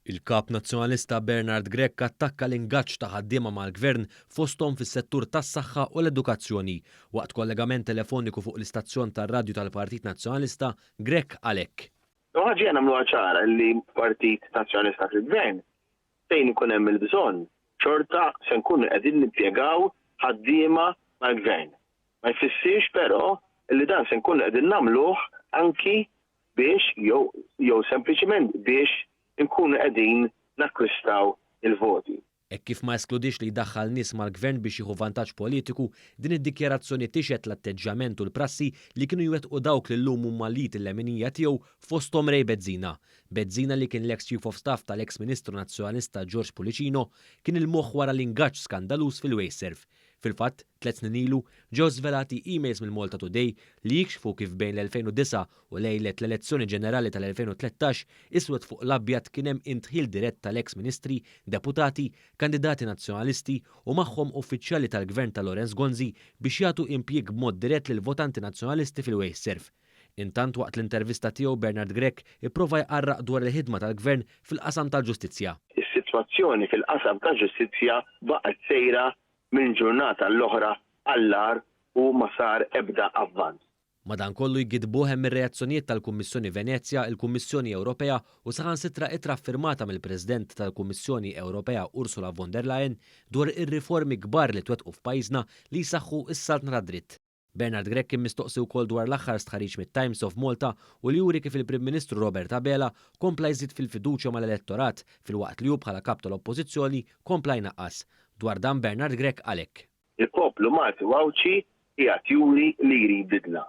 Il-Kap Nazzjonalista Bernard Grech attakka l-ingaġġ ta' ħaddiema mal-Gvern fosthom fis-settur tas-saħħa u l-edukazzjoni. Waqt kollegament telefoniku fuq l-istazzjon tar-radju tal-Partit Nazzjonalista, Grech qal hekk. Imma ħaġa hija nagħmluha ċara li l-Partit Nazzjonalista fil-Gvern fejn ikun hemm il-bżonn, xorta se nkunu qegħdin nimpjegaw ħaddiema mal-Gvern. Ma jfissirx però li dan se nkunu qegħdin nagħmluh anki biex jew jew sempliċiment biex inkunu qegħdin nakkwistaw il-voti. Hekk kif ma eskludix li jdaħħal nies mal-Gvern biex jieħu vantaġġ politiku, din id-dikjarazzjoni tixhed l-atteġġjament u l-prassi li kienu jwettqu dawk li llum huma l-id leminija tiegħu fosthom Ray Bezzina, Bezzina li kien l-eks Chief of Staff tal-eks Ministru Nazzjonalista George Pullicino kien il-moħħ wara l-ingaġġ skandaluż fil-Wasteserv. Fil-fatt, tliet snin ilu, ġew żvelati emails mill-Malta Today li jikxfu kif bejn l-2009 u lejlet l-elezzjoni ġenerali tal-2013 iswed fuq l-abjad kien hemm indħil dirett tal-eks Ministri, Deputati, kandidati Nazzjonalisti u magħhom uffiċjali tal-Gvern ta' Lawrence Gonzi biex jagħtu impjieg b'mod dirett lill-votanti Nazzjonalisti fil-Wasteserv. Intant waqt l-intervista tiegħu Bernard Grech ipprova jqarraq dwar il-ħidma tal-Gvern fil-qasam tal-ġustizzja. Is-sitwazzjoni fil-qasam tal-ġustizzja baqgħet sejra minn ġurnata l-oħra għall-agħar u ma sar ebda avvanz. Madankollu jgiddbuh hemm ir-reazzjonijiet tal-Kummissjoni Venezja, il-Kummissjoni Ewropea u saħansitra ittra ffirmata mill-President tal-Kummissjoni Ewropea Ursula von der Leyen dwar ir-riformi kbar li twettqu f'pajjiżna li jsaħħu s-saltna tad-dritt. Bernard Grech kien mistoqsi wkoll dwar l-aħħar stħarriġ mit-Times of Malta u li juri kif il-Prim Ministru Robert Abela kompla jżid fil-fiduċja mal-elettorat filwaqt li hu bħala Kap tal-Oppożizzjoni kompla jnaqqas. Dwar dan Bernard Grech qal hekk. Il-poplu Malti u Għawdxi qiegħed juri li jrid bidla.